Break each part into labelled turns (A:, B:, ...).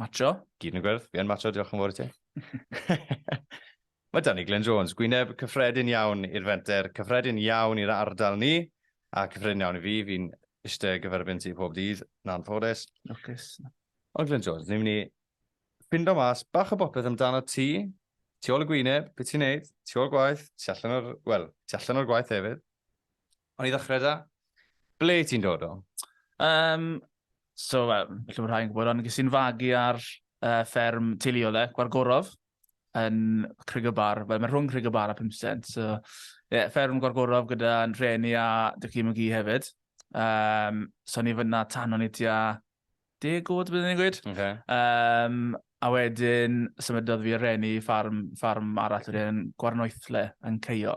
A: Macho.
B: Gyd yn y gwyrdd.
A: Fi yn macho, diolch yn fawr i ti. Mae Danny Glyn Jones, gwyneb cyffredin iawn i'r fenter, cyffredin iawn i'r ardal ni, a cyffredin iawn i fi, fi'n eisiau gyferbyn ti pob dydd, na'n ffodus. Lwcus.
B: Ond Glyn Jones,
A: ni'n mynd i ffindo mas bach o bopeth amdano ti, ti ôl y gwyneb, beth ti'n neud, ti ôl gwaith, ti allan o'r, wel, ti allan o'r gwaith hefyd. O'n i ddechrau da? Ble ti'n dod o? Um,
B: so, well, felly bod rhai'n gwybod, ond ges i'n fagu ar uh, fferm teuluol e, Gwargorof, yn Crig y Bar. Wel, mae rhwng Crig y Bar a Pimstent. So, yeah, fferm Gwargorof gyda'n rheni a dy cym y gi hefyd. Um, so, ni fyna tan o'n i tua deg oed, byddwn i'n gweud. Okay. Um,
A: a wedyn,
B: symudodd fi reni ffarm, ffarm arall, wedyn gwarnoethle yn Ceio.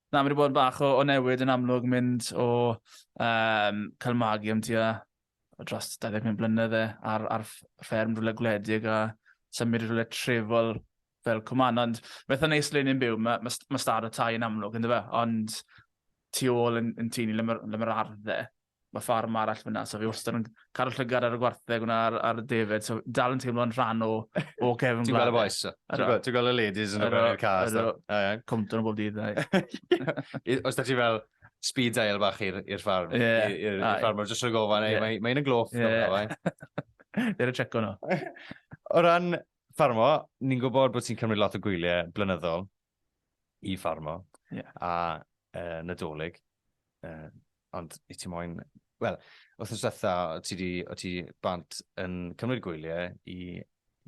B: Na, mae wedi bod bach o, o newid yn amlwg mynd o um, cael magu am tua dros 25 blynedd e, ar, ar fferm rhywle gwledig a symud rhywle trefol fel cwman. Ond mae eitha neis le ni'n byw, mae, mae, mae stad o tai yn amlwg, ynddo fe? Ond tu ôl yn, yn tu ni le mae'r ma ardd dde. Mae ffarm arall fyna, so fi wastad yn cadw llygad ar y gwartheg yna ar, ar y defed, so dal yn teimlo'n rhan o, o Kevin Ti'n gweld y boys?
A: Ti'n gweld y ladies yn y cars? Cwmton
B: o bob dydd.
A: Os da ti fel, speed dial bach i'r ffarm. Yeah. I'r ffarm, mae'n jyst rhoi gofan, yeah. mae'n mae yn gloff. Yeah.
B: Dyr y checo nhw. O ran
A: ffarmo, ni'n gwybod bod ti'n cymryd lot o gwyliau blynyddol. i ffarmo yeah. a uh, Nadolig. Uh, ond i ti moyn... Wel, wrth ymwneud dda, o ti, di, o ti bant yn cymryd gwyliau i,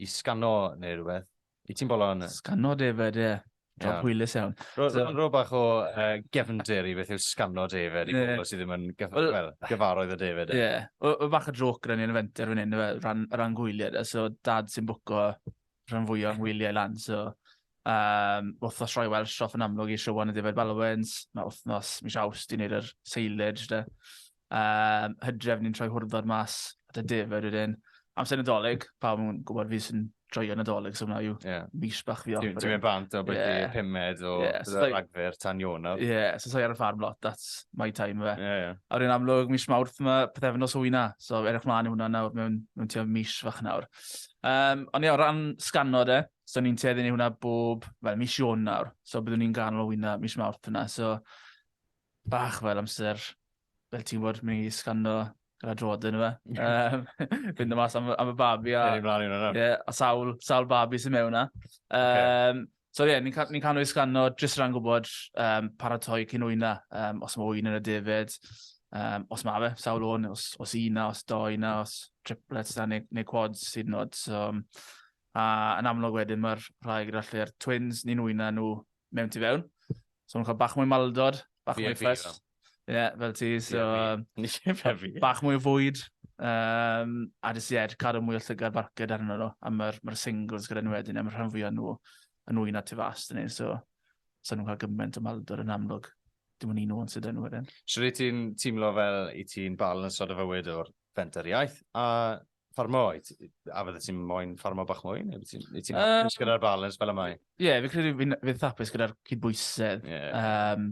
A: i sgano neu rhywbeth. I ti'n bolo yn... Sgano David, ie. Yeah.
B: Job yeah. hwylus iawn. Ro'n rho bach o
A: uh, gefndir i beth yw sgano David i bobl sydd ddim yn gyf well, well, gyfarwydd o David. Ie. Yeah. O, o bach o
B: joc rhan i'n fenter fan hyn, rhan, rhan gwyliau. So, dad sy'n bwco rhan fwy o'n wyliau lan, so um, wythnos roi Welsh off yn amlwg i Siwan y Defaid Balwens, mae wythnos mis awst i wneud yr seilage, da. Um, hydref ni'n troi hwrddod mas at y Defaid wedyn. Amser nadolig, pawb yn gwybod fi sy'n joio nadolig, so hwnna yw yeah. mis bach fi off. Ti'n mynd bant o beth
A: yeah. pumed o yeah, so ragfyr tan Ionaf. Ie, yeah, so sa'i ar y ffarm
B: lot, that's my time fe. Yeah, yeah. A rwy'n amlwg mis mawrth mae pethefnos o wyna, so erwch mlaen i hwnna nawr mewn, mewn tua mis fach nawr. Um, ond ie, o ran sgano de, so ni'n tueddu ni hwnna bob, fel mis Ion nawr, so byddwn ni'n ganol o wyna mis Mawrth yna, so bach fel amser, fel ti'n bod, mynd i sgano gyda drod yn yma. Um, fynd y mas am, am y babi a... Ie, ni blaen i hwnna. Ie, a sawl, sawl babi sy'n mewn yna. Um, okay. So ie, yeah, ni'n ni cael nhw i sgano jyst rhan gwybod um, paratoi cyn wyna, um, os mae wyna yn y defyd, um, os mae fe, sawl o'n, os, os una, os do una, os triplets da, neu, neu quads sydd nod. So, um, a yn amlwg wedyn mae'r rhai gyda lle'r twins, ni'n wyna nhw mewn tu fewn. So nhw'n cael bach mwy maldod, bach yeah, mwy ffes. Ie, yeah, fel ti, so... Yeah, fel fi. Bach mwy o fwyd, um, a jyst ie, yeah, cadw mwy o llygad barced arno nhw, a mae'r ma singles gyda nhw wedyn, a mae'r rhan fwy o nhw yn wy'n at y fast yn ei, so sa'n nhw'n cael gymaint o maldor yn amlwg. Dim ond un o'n sydd yn wedyn. Siwr i ti'n teimlo
A: fel i ti'n bal yn ystod o fywyd o'r fentariaeth, a ffarmo, a fydde ti'n moyn ffarmo bach mwy? Neu ti'n ti um, gyda'r balans fel y mae? Ie, yeah, fi credu fi'n
B: fi thapus gyda'r cydbwysedd. Yeah. Um,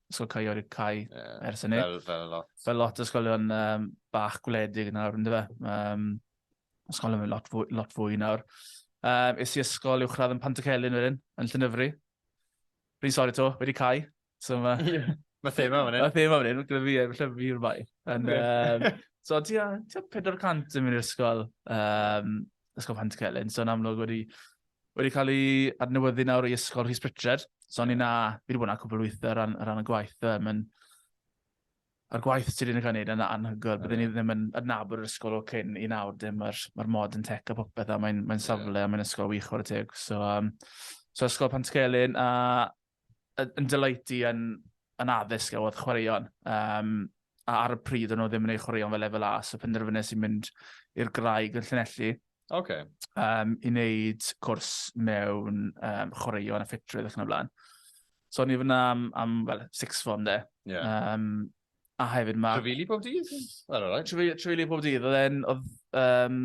B: Ysgol Caeorig Cai ers hynny. Fel, fel lot. Fel lot
A: ysgolion
B: um, bach gwledig nawr, ynddo fe. Um, ysgol yn lot fwy, lot fwy nawr. Um, es i ysgol uwchradd yn Pantycelyn wedyn, yn Llynyfri. Rwy'n sori to, wedi cai. So, ma... Mae thema
A: fan hyn. Mae thema fan hyn, gyda fi,
B: efallai fi yw'r bai. And, um, so, ti a 400 yn mynd i'r ysgol, um, ysgol Pantycelyn. So, yn amlwg wedi wedi cael ei adnewyddu nawr i Ysgol Rhys Pritchard. So o'n i na, fi wedi bod yna cwbl weithiau ar ran, ran y gwaith. Um, yn, a'r gwaith sydd wedi'n cael ei wneud yn anhygoel. Byddwn ni ddim yn adnabod yr ysgol o cyn i nawr. Dim mae'r ma mod yn tech a popeth a mae'n mae safle yeah. a mae'n ysgol wych o'r teg. So, um, so ysgol Pantgelyn a yn delighty yn, yn addysg a oedd chwaraeon. Um, a ar y pryd o'n nhw ddim yn ei chwaraeon fel lefel A, so penderfynnes i'n mynd i'r graig yn Llanelli. Okay.
A: Um, I
B: wneud cwrs mewn um, chwaraeon a ffitrwydd ac yn y blaen. So o'n i fyna am, am well, six form de. Yeah. Um, a hefyd mae... Trefili pob
A: dydd? Trefili
B: pob dydd. Oedd e'n... Oedd, um,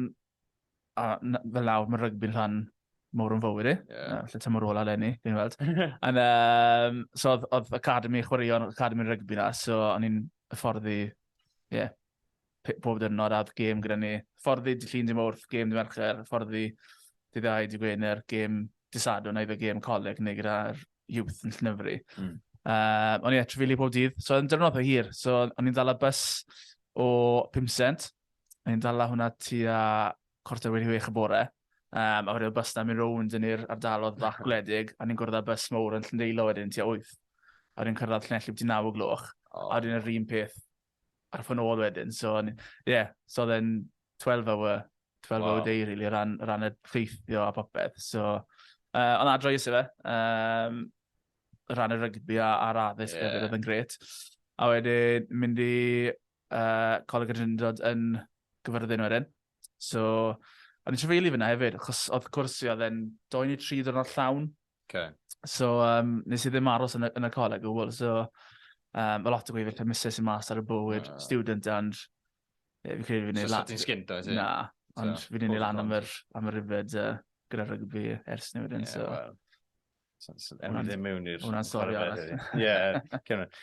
B: a fel nawr mae rygbi'n rhan mor yn fywyd i. Yeah. Uh, lle ti'n mor ola lenni, fi'n weld. And, um, so oedd, oedd Academy chwaraeon, Academy rygbi na, so o'n i'n fforddi, ie, yeah, pob dyrnod a gêm gyda ni. Fforddi di llun di mwrth, gêm di mercher, fforddi di ddau di gwener, gêm di sadwn, neu fe gêm coleg neu gyda'r youth yn llynyfru. Mm. Uh, o'n i'n etrafili pob dydd, so yn dyrnod o hir, so o'n i'n dal y bus o 5 cent, Ni'n dala hwnna tua cwarter wedi wech y bore. Um, a wedyn y bus na mynd rownd yn i'r ardalodd bach gwledig, a ni'n gwrdd â bus mowr yn Llyndeilo wedyn tua 8. A wedyn cyrraedd Llanelli byti 9 o gloch, oh. a wedyn yr un peth ar ffyn ôl wedyn. So, ie, yeah, so oedd e'n 12 hour, 12 wow. hour day, really, ran, ran y ffeithio a popeth. So, uh, ond adro i fe, um, ran y rygbi a'r addysg yeah. oedd yn gret. A wedyn mynd i uh, Coleg y Drindod yn gyfyrddin wedyn. So, o'n i'n trefeili fyna hefyd, achos oedd cwrs i oedd e'n 2 neu 3 ddwrnod llawn. Okay. So, um, nes i ddim aros yn y, yn y coleg o gwbl. So, um, mae lot o gweithio lle misus i mas ar y bywyd, uh. student, and... Yeah, fi'n credu fi'n ei lan... So, ti'n sgint o, Na,
A: ond so,
B: fi'n ei lan am yr, am yr yfed uh, gyda rygbi ers ni wedyn. Yeah, so. well.
A: O'n i ddim mewn i'r... Hwna'n stori arall.
B: Ie, cymryd.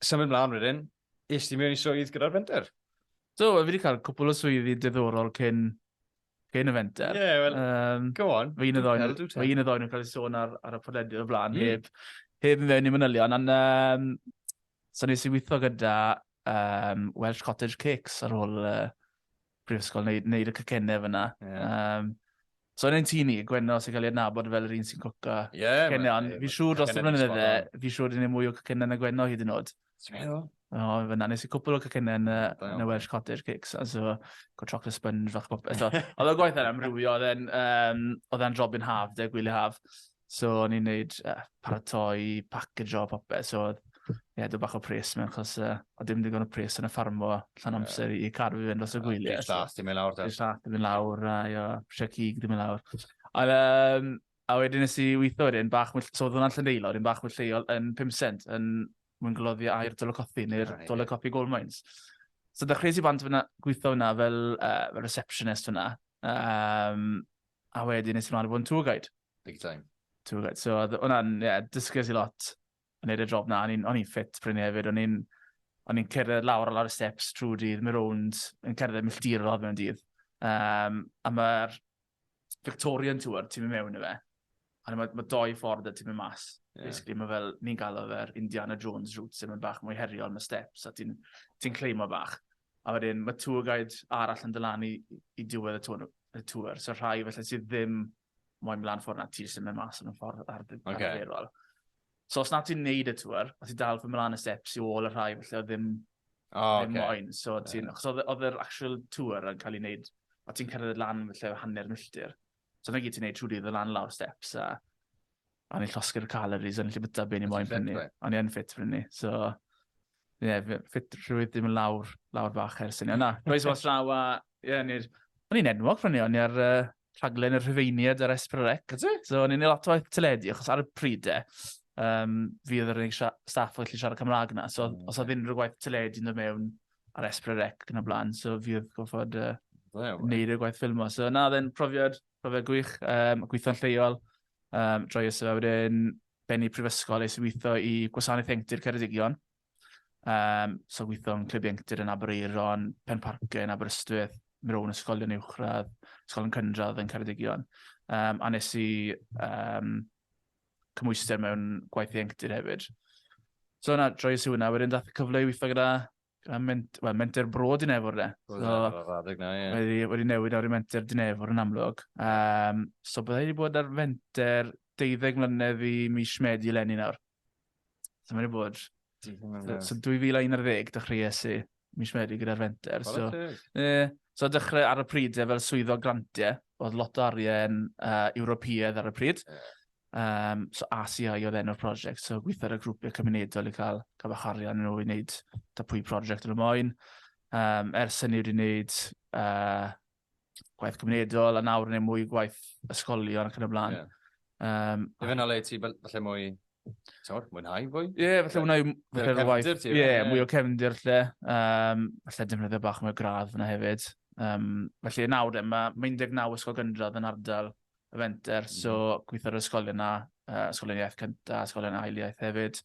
A: Symud mlaen wedyn, es ti mewn i swydd gyda'r fenter? Do, fi wedi cael
B: cwpl o swyddi diddorol cyn, cyn y fenter. Ie, yeah, well, um,
A: go on. Fe un y ddoen, fe un
B: y ddoen yn cael ei sôn ar, ar y podlediad o blaen, mm. heb, heb mewn i manylion, ond um, so nes i weithio gyda um, Welsh Cottage Cakes ar ôl uh, brifysgol, wneud, wneud y cycennau fyna. Yeah. Um, so yn ein tîn ni, Gwenno sy'n cael ei adnabod fel yr un sy'n cwca yeah, cycennau, ond fi'n siŵr dros y blynydde, fi'n siŵr dyn ni mwy o cycennau na Gwenno hyd yn oed. Ti'n meddwl? O, fyna, nes i cwpl o cycennau yn, yn y Welsh Cottage Cakes, a so, go chocolate sponge, fach popeth. Oedd y gwaith yna amrywio, oedd e'n um, oedd e'n drobyn haf, de, gwylio haf. So o'n i'n neud uh, paratoi, package o popeth. So oedd ie, yeah, bach o pres mewn, chos uh, o dim digon o pres yn y ffarmo, llan amser i car fi fynd os y gwyliau. Dwi'n llath, dim i lawr. Dwi'n
A: llath, dim i lawr,
B: a jo, prisiau cig, dim i lawr. Ond, um, a wedyn nes i weithio wedyn, bach mwy, so oedd hwnna'n lleneilo, yn bach mwy lleol yn 5 cent, yn mwyn gloddio air Dolocothi, neu'r Dolocothi Gold Mines. So dechreuais i bant fyna, gweithio fyna fel, uh, fel receptionist fyna. Um, A wedyn nes ymlaen i fod yn tour guide. Big time.
A: Tour guide. So oedd
B: hwnna'n, ie, yeah, dysges i lot yn edrych job na. O'n i'n ffit pryn hefyd. O'n i'n o'n i'n cerdded lawr a lawr y steps trwy dydd, mi rownd, yn cerdded milltir o mewn dydd. Um, a mae'r Victorian Tour, ti'n mynd mewn i fe, A mae, mae doi ffordd y ti'n mynd mas. Yeah. Basically, mae fel, ni'n gael o fe'r Indiana Jones route, sy'n mynd bach mwy heriol, mae steps, a ti'n ti cleimo bach. A wedyn, mae tour guide arall yn dylan i, i diwedd y tour, y tour. So rhai felly sydd ddim moyn mlaen ffordd na ti sy'n mynd mas yn y ffordd ar dy okay. arferol. So os na ti'n neud y tour, a ti'n dal fy mlaen y steps i ôl y rhai felly oedd ddim, oh, ddim okay. moyn. So ti'n, yeah. oedd yr actual tour yn cael ei wneud, a ti'n cyrraedd lan felly hanner milltir. So na gyd ti'n neud trwy dydd o lan lawr steps a o'n i'n llosgi'r calories, o'n i'n llibyta byn i moyn prynu. O'n i'n ffit prynu, so... Ie, yeah, ffit rhywyd ddim yn lawr, lawr fach ers yna. Na, roes was draw a... Ie, yeah, ni'r... O'n i'n enwog prynu, o'n i'n ar uh, rhaglen yr hyfeiniad ar Esprorec. So o'n i'n ei lot o waith teledu, achos ar y pryd e, um, fi oedd yr unig staff oedd gallu siarad Cymraeg na. So mm. os oedd unrhyw waith teledu yn dod mewn, ar Esbrerec yn y blaen, so fi oedd gofod uh, well, wneud y gwaith ffilmo. So na, dde'n profiad, profiad gwych, um, gweithio'n lleol, um, droi ys yma wedyn benni prifysgol eis i weithio i gwasanaeth engtir Ceredigion. Um, so gweithio yn clyb engtir yn Aberaeron, Pen Parcau yn Aberystwyth, mewn ysgolion uwchradd, ysgolion cynradd yn Ceredigion. Um, a nes i um, cymwyster mewn gwaith ieuenctid hefyd. So yna, droi y siwna, wedyn dath y cyfle i weithio gyda, gyda ment, well, menter bro Dinefwr, de. So, wedi, wedi newid ar y menter Dinefwr yn amlwg. Um, so byddai wedi bod ar fenter 12 mlynedd i mis Medi eleni nawr. So mae wedi bod So 2011, dechreuais i mis Medi gyda'r Fenter. So, e, so dechrau ar y pryd e, fel swyddo grantiau, oedd lot o arian uh, Ewropeaidd ar y pryd. Yeah. Um, so ACI oedd enw'r prosiect, so gweithio ar y grwpiau cymunedol i cael, cael bach arian nhw i wneud da pwy prosiect yn y moyn. Um, ers hynny wedi wneud uh, gwaith cymunedol, a nawr neu mwy gwaith ysgolion ac yn y blaen. Yeah. Um, Ie, fe
A: na le ti falle mwy, ti'n mwynhau fwy? Ie, yeah, falle mwynhau
B: fwy o'r waith. Ie, yeah, mwy o cefndir lle. Um, falle defnyddio bach mwy o gradd fyna hefyd. Um, felly nawr, e, mae ma 19 ysgol gyndradd yn ardal y fenter, mm. so mhm. gweithio'r ysgol yna, uh, ysgol iaith cyntaf, ysgol yna ail iaith hefyd.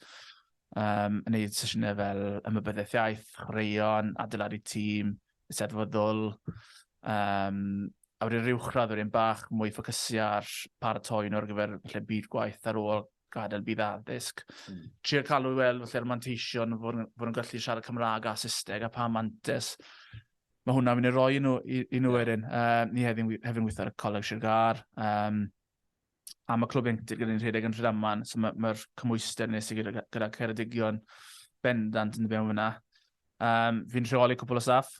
B: Um, yn neud sesiynau fel ymwybyddiaeth iaith, chwaraeon, adeiladu tîm, Eisteddfod ddwl, um, a wedyn rhyw chrad wedyn bach mwy ffocysio ar paratoi nhw ar gyfer lle byd gwaith ar ôl gadael byd addysg. Mm. Trio cael nhw i weld felly'r manteision fod nhw'n gallu siarad Cymraeg a Saesneg a pa mantes. Mae hwnna'n mynd i roi nhw, i, i nhw yeah. wedyn. Um, ni hefyd, hefyd weithio ar y Coleg Sir Gar. Um, a mae clwb ieuenctid gyda ni'n rhedeg yn Rhydaman, so mae'r ma cymwyster nes i gyda, gyda Ceredigion bendant yn ddibynnol fyna. Um, fi'n rheoli cwpl o staff,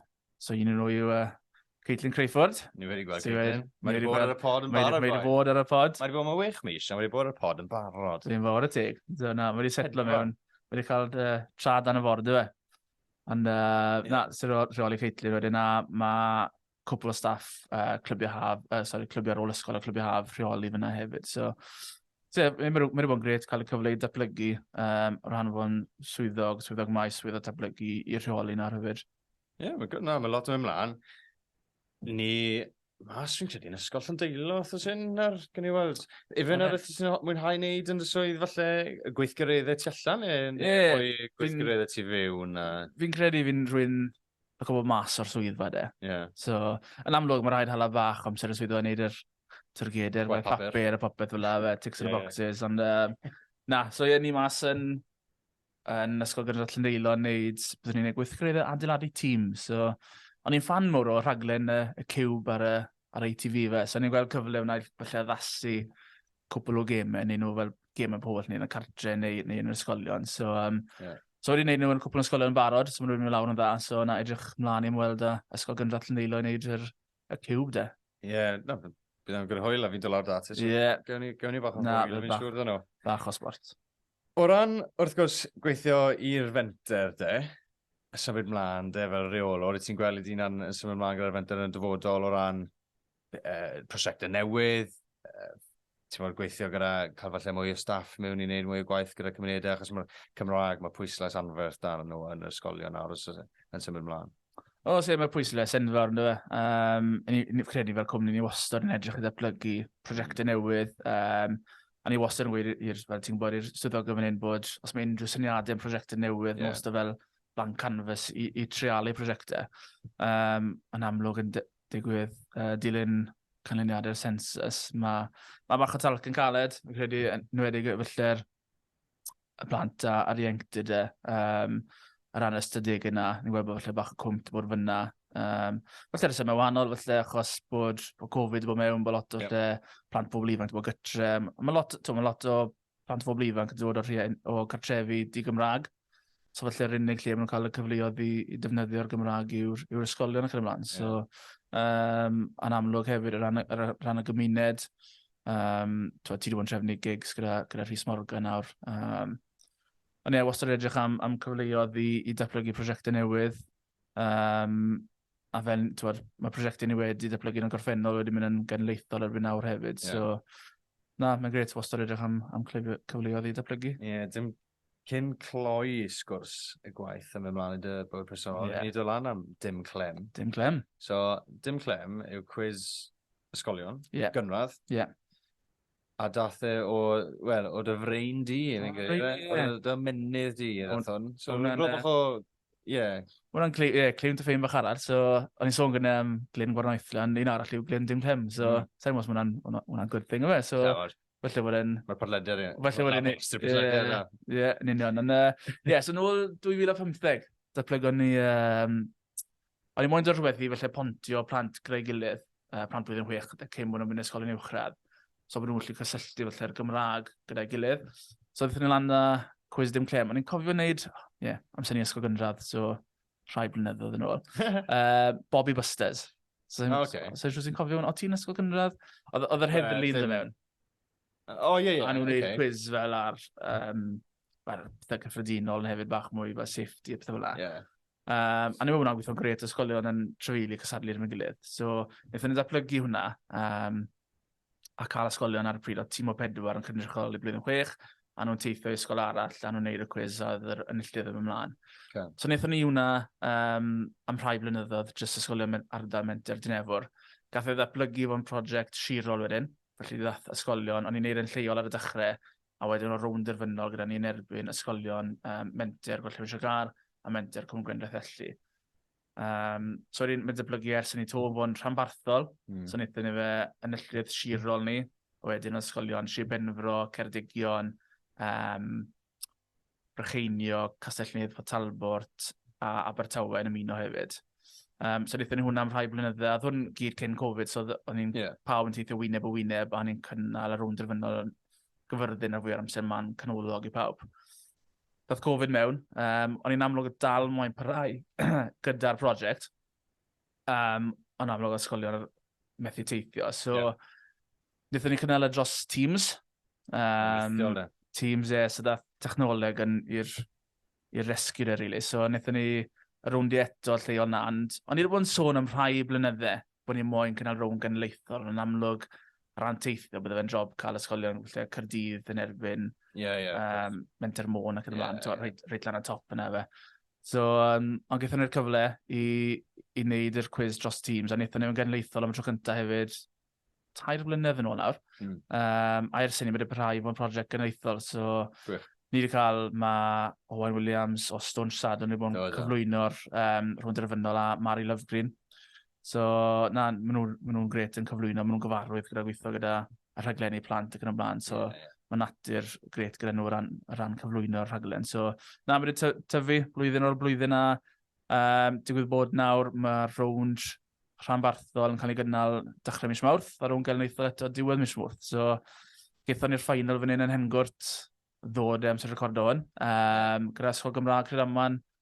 B: so un yn nhw yw uh, Caitlin Crayford. Ni wedi gweld Caitlin.
A: Mae wedi bod ar y pod yn barod. Mae wedi bod ar y pod. Mae wedi
B: bod mewn wych mis, a mae
A: wedi bod ar y pod yn barod. Dwi'n fawr y teg.
B: So, na, mae wedi setlo mewn. Mae wedi cael uh, trad dan y ford, dwi e. Ond, uh, na, sy'n rheoli Caitlin wedyn, a mae cwpl o staff uh, clybiau haf, uh, sorry, clybiau rôl ysgol a clybiau haf rheoli fyna hefyd. So, so yeah, mae'n mynd i fod yn gret cael y cyfle i datblygu um, o ran fo'n swyddog, swyddog maes, swyddog datblygu i'r rheoli na rhywbeth. Ie, yeah, mae no,
A: ma lot yn mynd mlaen. Ni Mas fi'n credu yn ysgol Llandeilo, os oes hyn, ar gen i weld. Ifan ar ydych sy'n mwynhau wneud yn y swydd falle gweithgareddau tu allan, neu yeah, gweithgareddau tu fyw. Fi'n credu fi'n
B: rwy'n ac o bod mas o'r swyddfa de. Yeah. So, yn amlwg, mae rhaid hala fach amser y swyddfa i wneud yr tyrgedr, mae papur a popeth fel fe, ticks yeah. the boxes, ond uh, na, so ie, ni mas yn, yn Ysgol Gynradd Llyndeilo yn neud, byddwn ni'n neud gweithgreddau adeiladu tîm, so, o'n i'n fan mor o rhaglen y, y cube ar y, ar ITV fe. So ni'n gweld cyfle wna i falle addasu cwpl o gemau, neu nhw fel gemau pobl neu yn y cartre neu, neu yn yr ysgolion. So, um, yeah. so wedi gwneud nhw yn cwpl o ysgolion yn barod, so maen nhw'n mynd lawr yn dda. So na edrych mlaen i'n weld uh, ysgol gynradd Llandeilo i wneud yr, y cwb de. Ie, yeah, no,
A: bydd yn gwrdd hwyl a fi'n dod lawr dati. So yeah. Gawn ni, gawn ni bach o hwyl, fi'n siŵr dyn nhw. Bach o sport.
B: O ran,
A: wrth gwrs, gweithio i'r fenter de, symud mlaen de, fel reolwr, ti'n gweld i dyna'n symud mlaen gyda'r fenter yn y dyfodol o ran uh, prosiectau newydd, uh, ti'n bod gweithio gyda cael falle mwy o staff mewn i wneud mwy o gwaith gyda cymunedau, achos mae'r Cymraeg, mae pwyslais anferth dan nhw yn yr ysgolion nawr yn symud mlaen. O, sef, mae pwyslais
B: enfawr yn dweud. Um, ni'n credu fel cwmni ni wastad yn edrych i ddatblygu prosiectau newydd, um, A ni wastad yn gweud i'r, fel ti'n gwybod, i'r swyddog yn fan hyn bod os mae unrhyw syniadau yn prosiectau newydd, yeah. wastad fel blank canvas i, i trealu prosiectau. Um, yn amlwg yn digwydd uh, dilyn canlyniadau'r census, mae ma bach o talc yn caled, fi'n credu, yn wedi gyfyllter y plant a, a'r ieuenctid e, um, ar ran ystadeg yna, ni'n gweld bod falle bach o cwmt bod fyna. Um, falle rheswm mewn wahanol, falle achos bod, bod Covid wedi bod mewn, bod lot o yep. lle, plant pobl ifanc wedi bod gytre. Mae lot, to, mae lot o plant pobl ifanc yn dod o'r rhien, o cartrefi di Gymraeg. So falle yr unig lle maen nhw'n cael y cyfleoedd i, i defnyddio'r Gymraeg yw'r yw ysgolion ac yn ymlaen. So, yeah. um, a'n amlwg hefyd, ar ran, ar ran y gymuned, Um, ti wedi bod yn trefnu gigs gyda, gyda Rhys Morgan nawr. Um, ond ie, wastad edrych am, am cyfleoedd i, i datblygu prosiectau newydd. Um, a fe'n, ti'n mae prosiectau ni wedi datblygu yn y gorffennol wedi mynd yn genleithol erbyn nawr hefyd. Yeah. So, na, mae'n gret wastad edrych am, am cyfleoedd i datblygu. Ie, yeah, dim,
A: Cyn cloi sgwrs y gwaith yn mynd mlaen i dy bywyd personol, yeah. ni dod lan am dim clem. Dim clem. So,
B: dim
A: clem yw cwiz ysgolion, yeah. gynradd. Yeah. A dath e o, wel, o dy frein di, yn oh, yeah. o dy menydd di, yn hwn. So, mae'n rhywbeth bach o, ie. Hwna'n cli, yeah,
B: clem dy ffein bach arall, so, o'n i'n sôn gyda um, Glyn Gwarnoethlan, un arall yw Glyn Dim Clem, so, mm. sa'n mwyn os hwnna'n good thing o fe, so, Felly wedyn... Mae podlediad, ie. Felly
A: wedyn... Mae extra
B: podlediad yna. Ie, yn union. Ond, ie, so nôl 2015, datblygon ni... Um, o'n i moyn dod rhywbeth i felly pontio plant greu gilydd, uh, plant blwyddyn chwech, gyda cyn mwyn o'n mynd ysgol yn uwchradd. So bod nhw'n gallu cysylltu felly'r Gymraeg gyda'i gilydd. So ddethon ni lan da cwys dim clem. O'n i'n cofio wneud, ie, yeah, amser ni ysgol gynradd, so rhai blynyddoedd yn ôl. uh, Bobby Busters. So, oh, okay. so, so, so, cofio hwn, o ti'n ysgol gynradd? Oedd yr heddlu yn dod mewn. O,
A: ie, ie. A nhw'n gwneud quiz fel
B: ar, um, ar pethau cyffredinol yn hefyd bach mwy fel safety a pethau fel la. Yeah. Um, a ni wna'n gweithio'n gret ysgolion yn trefili cysadlu yn y gilydd. So, wnaethon ni ddatblygu hwnna. Um, a cael ysgolion ar y pryd oedd tîm o pedwar yn cynrychioli blwyddyn chwech, a nhw'n teithio i ysgol arall, a nhw'n neud y cwiz a oedd yr enilltydd ddim ymlaen. Okay. So wnaethon ni hwnna um, am rhai blynyddoedd, jyst ysgolion ardal menter Dinefwr. Gath ei ddatblygu fo'n prosiect sirol wedyn, felly ddath ysgolion, o'n i'n neud yn lleol ar y dechrau, a wedyn o rownd derfynol gyda ni yn erbyn ysgolion um, menter Gwellhewyn Siagar a menter Cwm Gwendraeth Elli. Um, so wedyn, mae'n dyblygu ers yn ei to fo'n rhanbarthol. Mm. So wnaethon ni fe yn y llwyd sirol ni. Wedyn ysgolion Sir Benfro, Ceredigion, um, Brycheinio, Castellnydd, Port Talbot a Abertawe yn ymuno hefyd. Um, so wnaethon ni hwnna am rhai blynydde, a hwn gyd cyn Covid, so o'n i'n yeah. pawb yn teithio wyneb o wyneb, a o'n i'n cynnal ar ôl drefynol gyfyrddin ar fwy o'r amser ma'n canolog i pawb. Doedd Covid mewn, um, o'n i'n amlwg dal mwyn parhau gyda'r prosiect. Um, o'n amlwg ysgolion methu teithio. So, yeah. wnaethon ni cynnal y e dros Teams. Um, teams, e, so dath technoleg yn i'r rescue e, really. So, wnaethon ni rownd i eto lle o'n and o'n i'n bod yn sôn am rhai blynydde bod ni'n moyn cynnal rownd genedlaethol, yn amlwg, rhan teithio, bydde fe'n job cael ysgolion lle Cyrdydd yn erbyn yeah, yeah, um, Menter Môn ac yn ymlaen, yeah, yeah. reit lan y top yna fe. So, um, ond gaethon ni'r cyfle i, i wneud yr cwiz dros teams, a wnaethon ni'n genedlaethol am y tro cyntaf hefyd, tair blynedd yn ôl nawr. Mm. Um, a ers hynny, mae'n rhai fo'n prosiect genedlaethol, so Gwych. ni wedi cael, mae Owen Williams o Stone Sad, o'n wedi bod yn cyflwyno'r um, rhwng derfynol a Mary Lovegreen. So, na, maen nhw'n ma nhw gret yn cyflwyno, maen nhw'n gyfarwydd gyda gweithio gyda y rhaglenni plant ac yn ymlaen. So, yeah, yeah. mae natur gret gyda nhw ran, ran cyflwyno'r rhaglen. So, na, mae wedi tyfu blwyddyn o'r blwyddyn a um, digwydd bod nawr mae'r rownd rhanbarthol yn cael ei gynnal dechrau mis Mawrth a rownd gael yn eithaf eto diwedd mis Mawrth. So, gaethon ni'r ffainal fan hyn yn Hengwrt ddod am sy'n recordo hwn. Um, gyda Sgol Gymraeg Credaman,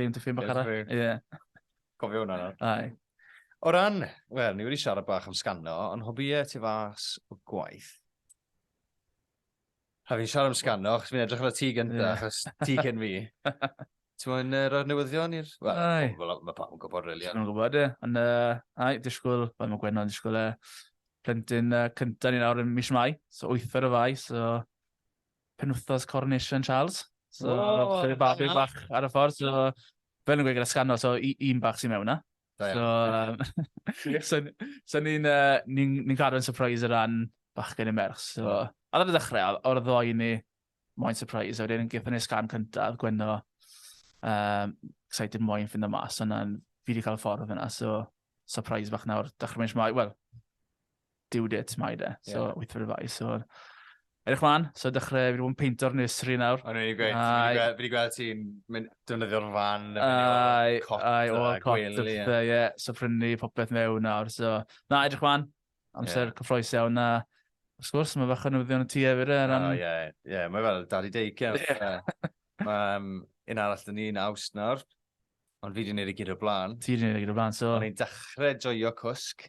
B: Liam dy ffilm bach arall. Ie. Cofio hwnna
A: nawr. Ai. O
B: ran,
A: wel, ni wedi siarad bach am sgano, ond hobïau ti fas o gwaith. A fi'n siarad am sgano, achos fi'n edrych ar y ti gyntaf, achos ti cyn fi. Ti'n mwyn uh, rhoi'r newyddion i'r... Wel, mae pawb yn gwybod, really. Ti'n gwybod, ie. Ond,
B: uh, ai, disgwyl, fel mae Gwenno yn disgwyl, uh, plentyn uh, cyntaf ni'n awr yn mis mai, so wythfer o fai, so penwthos Coronation Charles. So, oh, so bach, bach, bach ar y ffordd. So, fel yn gweud gyda sgano, so un bach sy'n mewn na. So, um, so, so ni'n uh, ni, ni cadw'n surprise o ran bach gen i merch. So, mm. a ddod y ddechrau, o'r ddoi ni, moyn surprise. Wedyn, gyda ni sgan cyntaf, Gwenno, um, excited moyn ffind y mas, ond fi wedi cael ffordd yna. So, surprise bach nawr, dechrau mynd eisiau, wel, due dates mai de, so yeah. wyth fy fai. So, edrych mlaen, so dechrau, fi wedi bod yn peinto'r nursery nawr. O'n i'n gweud, fi wedi gweld ti'n defnyddio'r fan, ai, cot, ai, o, cot, ie, so prynu popeth mewn nawr, so, na, edrych mlaen, amser yeah. cyffroes iawn na, wrth gwrs, mae fach yn newyddion y tu efyr, e, ran... O, ie, ie, mae fel daddy daycare. Mae un arall dyn ni'n awst nawr, Ond fi wedi gwneud y gyd o'r blaen. Ti wedi gwneud y gyd o'r blaen, so... O'n i'n dechrau joio cwsg.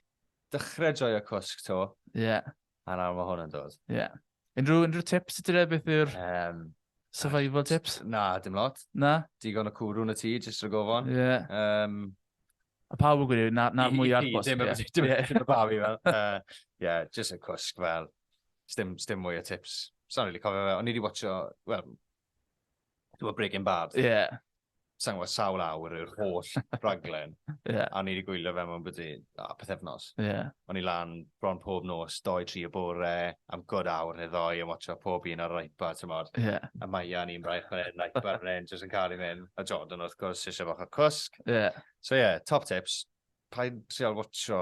B: Dechrau joio cwsg, to. Ie. Yeah. A nawr mae hwn yn dod. Ie. Yeah. Unrhyw, unrhyw tips i ti dre beth yw'r... Um, Survival tips? Na, dim lot.
A: Na? Digon o
B: cwrw yn y tŷ,
A: jyst rhag ofon. Ie. Yeah. Um,
B: a pawb yn gwneud, na'r na mwy ar bwys. Dim y babi
A: fel. Ie, jyst y cwsg fel. Stim, stim mwy o tips. Sa'n rili cofio fe. O'n i wedi watcho, wel, Dwi'n Breaking Bad. Ie. Yeah. Sa'n gwybod sawl awr yw'r holl raglen. yeah. A ni wedi gwylio fe mewn byddu, a peth efnos. Yeah. O'n i lan bron pob nos, doi, tri o bore, am god awr neu ddoi, yn watcho pob un ar yr iPad, ti'n modd. Yeah. A mae Ian i'n braich fan hyn, iPad fan hyn, jyst yn cael ei mynd. A Jordan, wrth gwrs, eisiau fach o cwsg. Yeah. So ie, yeah, top tips. Pa'n trial watcho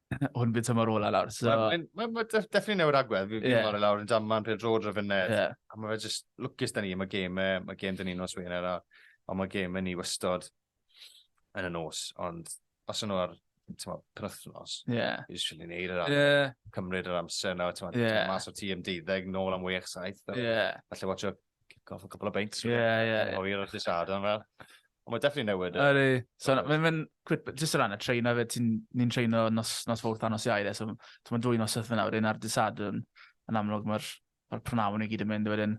B: hwn bydd tymor ola lawr. So... Mae'n ma, ma, definitely
A: newid agwedd. Fi'n yeah. marw lawr yn jaman pryd rôd rhaid fynedd. Yeah. A mae fe just lwcus da ni. Mae gêm, e, mae gêm da ni nos wein ar Ond mae gêm yn ni wystod yn y nos. Ond os yno ar penwthnos, yeah. i just really neud yr amser. Yeah. Cymryd yr amser nawr. Yeah. Mas o ti am deuddeg, nôl am wech, saith. Yeah. Felly watch up Kick off a couple of beins. Ie, ie. O, i'r wrth i sad o'n fel. Ond mae'n definitely newid. E. Ydy. So, mae'n
B: mynd, jyst o ran y treino fe, ni'n treino nos, nos fawrth a nos iau, e, so mae'n dwy nos ythyn nawr, un ar dysad yn, yn amlwg, mae'r ma prynawn i gyd yn mynd wedyn.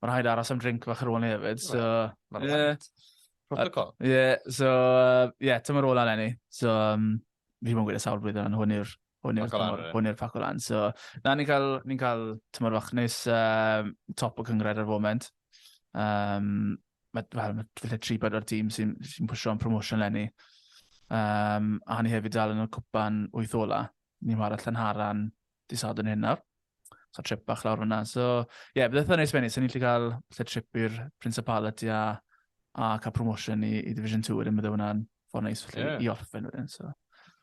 B: Mae'n rhaid aros am drink fach ar ôl ni hefyd, so... Mae'n yeah.
A: Protocol. Ie, yeah, so,
B: ie, uh, yeah, tymor ola lenni. So, um, fi mwyn gwneud y sawl blwyddyn, ond hwn i'r hwn i'r tymor, hwn i'r paco lan. So, na, ni'n cael, ni cael tymor fach neis um, top o cyngred ar y foment. Um, mae, well, mae felly tri bod o'r tîm sy'n sy pwysio am promotion lenni. Um, a ni hefyd dal yn y cwpan wyth ola. Ni'n wario Llanharan, Di sad yn hyn nawr. So trip bach lawr fyna. So, ie, yeah, bydd eitha neis benni. Sa'n ni'n lle cael lle trip i'r Principality a, a cael promotion i, i Division 2 wedyn, bydd hwnna'n ffordd neis felly yeah. i orffen wedyn. So.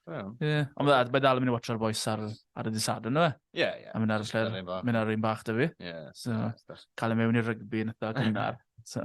B: Yeah. Yeah. Ond bydd mae dal yn mynd i watcho'r boys ar, ar y disad yna. Ie, yeah, ie. Yeah. A mynd ar y lle, mynd ar un bach da fi. Ie. Yeah, so, cael ei mewn i'r rygbi yn eitha cynnar. so.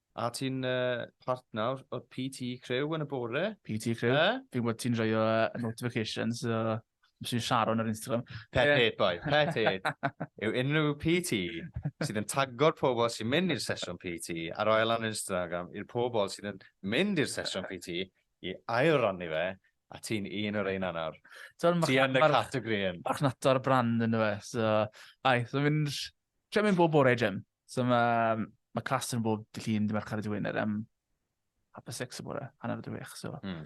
B: A ti'n
A: partner o'r PT Crew yn y bore? PT Crew? Eh?
B: Fi'n gwybod ti'n rhoi o notifications, so... Fes i'n Sharon ar Instagram. Pet hate, boi.
A: Pet hate. Yw unrhyw PT sydd yn tagor pobl sy'n mynd i'r sesiwn PT a roi lan Instagram i'r pobl sydd yn mynd i'r sesiwn PT i ail rannu fe, a ti'n un o'r ein anawr. Ti yn y categori yn. Marchnata'r brand
B: yn y fe. So, ai, so fi'n... Lle mynd bob bore, Jim? So mae ma clas yn bob dy llun, dy mercher dy wener am half a six y bore, hanner dy wech. So. Mm.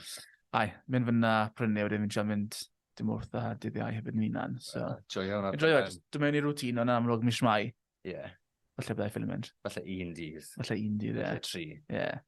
B: Ai, mynd fyna, prynu, wedyn fi'n siarad mynd dim wrth a dydd iau hefyd yn unan. So. Uh, joio hwnna. Joio,
A: dwi'n mynd i rŵtîn
B: o'n amlwg mis mai. Ie. Yeah. Falle byddai ffilm mynd. Falle un dydd.
A: Falle un dydd, ie. Yeah. Falle
B: tri. Ie. Yeah.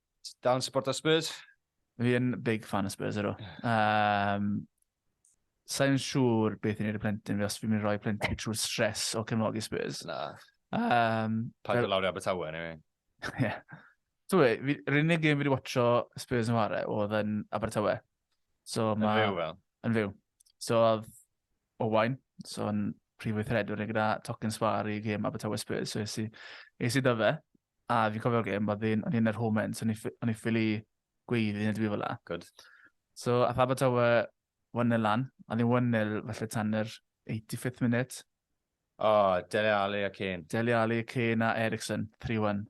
B: Dal yn supporto
A: Spurs? Fi yn big
B: fan o Spurs ydw. Um, Sa'n siŵr beth i'n ei y plentyn fi os fi'n mynd i roi plentyn trwy stres o cefnogi Spurs. Na. Um,
A: Paid o lawr i
B: Abertawe,
A: ni fi. Ie. So,
B: yr unig gêm fi wedi watcho Spurs yn ware oedd yn Abertawe. So, ma,
A: yn fyw fel? Yn fyw.
B: So, oedd Owain, so yn prif weithredwr neu gyda Tocyn Sfar i gêm Abertawe Spurs, so esi, esi da fe. A fi'n cofio'r gêm, oedd un, o'n i'n yr home end, so o'n i'n ffili gweiddi neu dwi'n fel la. Good. So,
A: a Faber
B: Tawa, 1-0 lan, a ddim 1-0 falle tan yr 85th minute. O, oh,
A: Dele Ali a Kane. Dele Ali, Kane a
B: Ericsson, 3-1.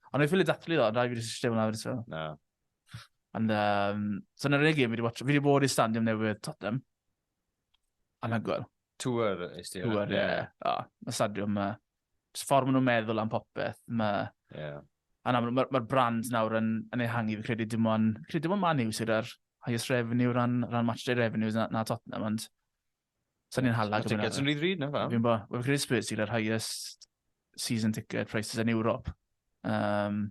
B: Ond o'n i'n ffili dathlu ddo, rhaid fi wedi systio hwnna wedi No. Ond, um, so yna'r unig gêm fi wedi watch, fi wedi bod i stand i'n newydd Tottenham. Anhygoel. Tŵr
A: is ti. Tŵr, ie.
B: Mae stadiwm yma. Mae ffordd maen nhw'n meddwl am popeth. Mae... Yeah. A nawr, mae'r ma brand nawr yn, yn ei hangi, fi credu dim ond, credu dim ond Man U sydd ar highest revenue ran, ran match day revenues na, na Tottenham, ond sa'n ni'n hala. Mae tickets yn rhy ddrud na fa?
A: Fi'n bo, we'n credu Spurs
B: sydd ar highest season ticket prices yn Europe. Um,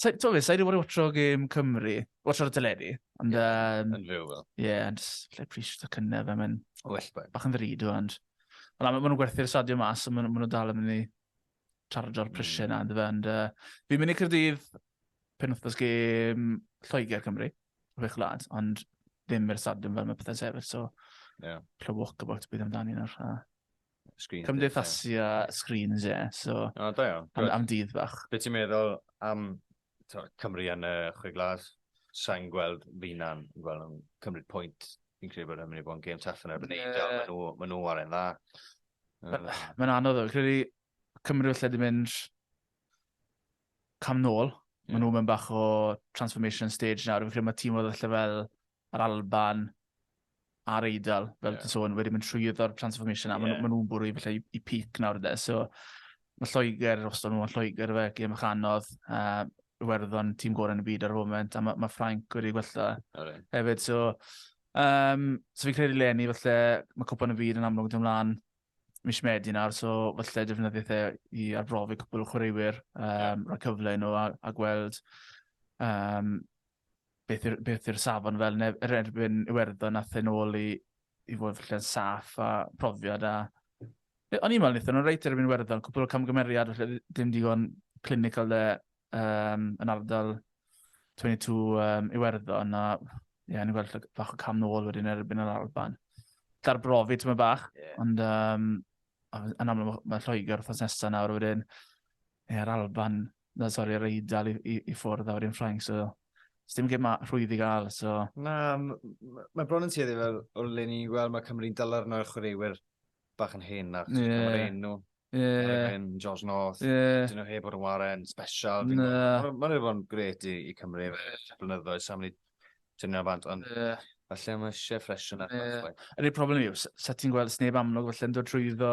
B: Sa, t'o' be', sa i 'di bod i watsio gêm Cymru, watsio ar y teledu, ond Ie, yym,
A: Yn fyw fel. ie, ond jyst lle
B: appreciate y cynne fe, mae'n O well boi. bach yn ddrud o, ond... Ond na, ma' ma' nhw'n gwerthu'r stadio mas, a ma' nhw ma' nhw dal yn mynd i chargio'r prisiau Mm. yna, yndyfe, ond yy, fi'n mynd i Caerdydd penwythnos gêm Lloegr Cymru, chwech wlad, ond ddim i'r stadiwm fel mae pethau'n sefyll, so Ie. little walkabout bydd amdani nawr. a- Screens. Cymdeithasu a screens, ie. So, oh, da iawn. Am, am dydd bach. Be ti'n meddwl
A: am to, Cymru yn y chwe glas? Sa'n gweld finan yn gweld yn cymryd pwynt. Fi'n credu bod yn mynd i bod yn gêm taff yn erbyn yeah. Eidal. Mae nhw, ma nhw ar e'n dda.
B: Mae'n anodd o. Credu Cymru felly wedi mynd cam nôl. Maen nhw'n mynd bach o transformation stage nawr. Fi'n credu mae tîm oedd allan fel yr Alban, a'r Eidal, fel yeah. ti'n sôn, wedi mynd trwyddo'r transformation, a yeah. maen nhw'n bwrw i falle i, i peak nawr ydy. So, mae Lloegr, os dyn nhw'n Lloegr, fe, gym eich anodd, uh, werddon tîm gorau yn y byd ar y foment, a mae ma Ffrainc wedi gwella right. hefyd. So, um, so fi'n credu Lenny, falle, mae cwpan y byd yn amlwg yn ymlaen mis Medi nawr, so falle defnyddio fe i arbrofi cwpl o chwaraewyr, um, yeah. rhoi cyfle nhw a, a gweld um, beth yw'r beth yw'r safon fel neb yr erbyn Iwerddon nath e nôl i i fod falle'n saff a profiad a e, o'n i'n meddwl wnaethon nhw'n reit erbyn Iwerddon, cwpl o camgymeriad falle ddim digon clinical de um, yn ardal 22 um, Iwerddon a ie, yeah, ni'n gweld bach o cam nôl wedyn erbyn yr Alban. Dar brofi ti'n mynd bach, yeah. ond um, yn amlwg mae Lloegr wrthnos nesaf nawr wedyn, ie, yeah, yr Alban, na, sori, yr eidl i, i, i ffwrdd a wedyn Ffrainc, so Os dim gym rhwydd i gael, so... Na,
A: mae bron yn tueddu fel o'r le ni'n gweld, mae Cymru'n dylar yna chwaraewyr bach yn hen na, chos yeah. mae'r enw. Yeah. Yn George North, yeah. dyn nhw heb bod yn waren, special. Mae'n yeah. ma rhaid bod yn gret i, i Cymru, blynyddoedd, sa'n mynd i tynnu ar bant, ond yeah. falle mae eisiau ffresh yna. Yeah. Yr un problem yw,
B: sa ti'n gweld sneb amlwg falle yn dod trwy ddo,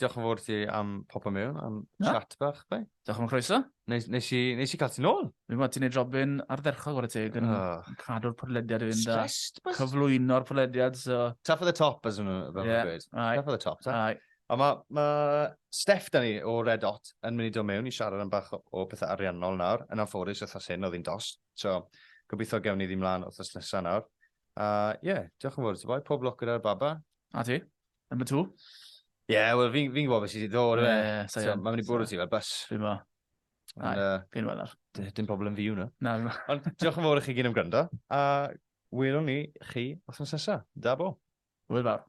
A: Diolch yn fawr ti am popio mewn, am Na. chat bach, bai. Diolch am y croeso.
B: Nes, nes, i, nes i
A: cael ti'n ôl. Fi'n gwybod, ti'n ei drobyn
B: ardderchog o'r y teg yn Oh. cadw'r podlediad i fynd a Stressed, bus? cyflwyno'r podlediad, so... Tap at the top,
A: as nhw, fel Ie, yeah. dweud. aye. Tap at the top, ta. Aye. A mae ma Steph da ni o Red Hot yn mynd i dod mewn i siarad am bach o, o pethau ariannol nawr. Yn anffodus, wythnos hyn oedd hi'n dos. So, gobeithio gewn ni ddim mlaen wythnos nesaf nawr. A ie, yeah, diolch yn fawr ti boi. Pob lwc gyda'r baba. A ti? Number two? Ie, yeah, wel, fi'n fi gwybod beth sydd wedi ddod. Ie, yeah, so, yeah. Mae'n mynd i bwrw ti fel bus. Fi'n ma. Ai, fi'n wel ar. Dim problem fi hwnna. Na, fi'n ma. Ond diolch yn fawr i chi gyn am gwrando, a welwn ni chi os yn sesa. Da bo. Wel fawr.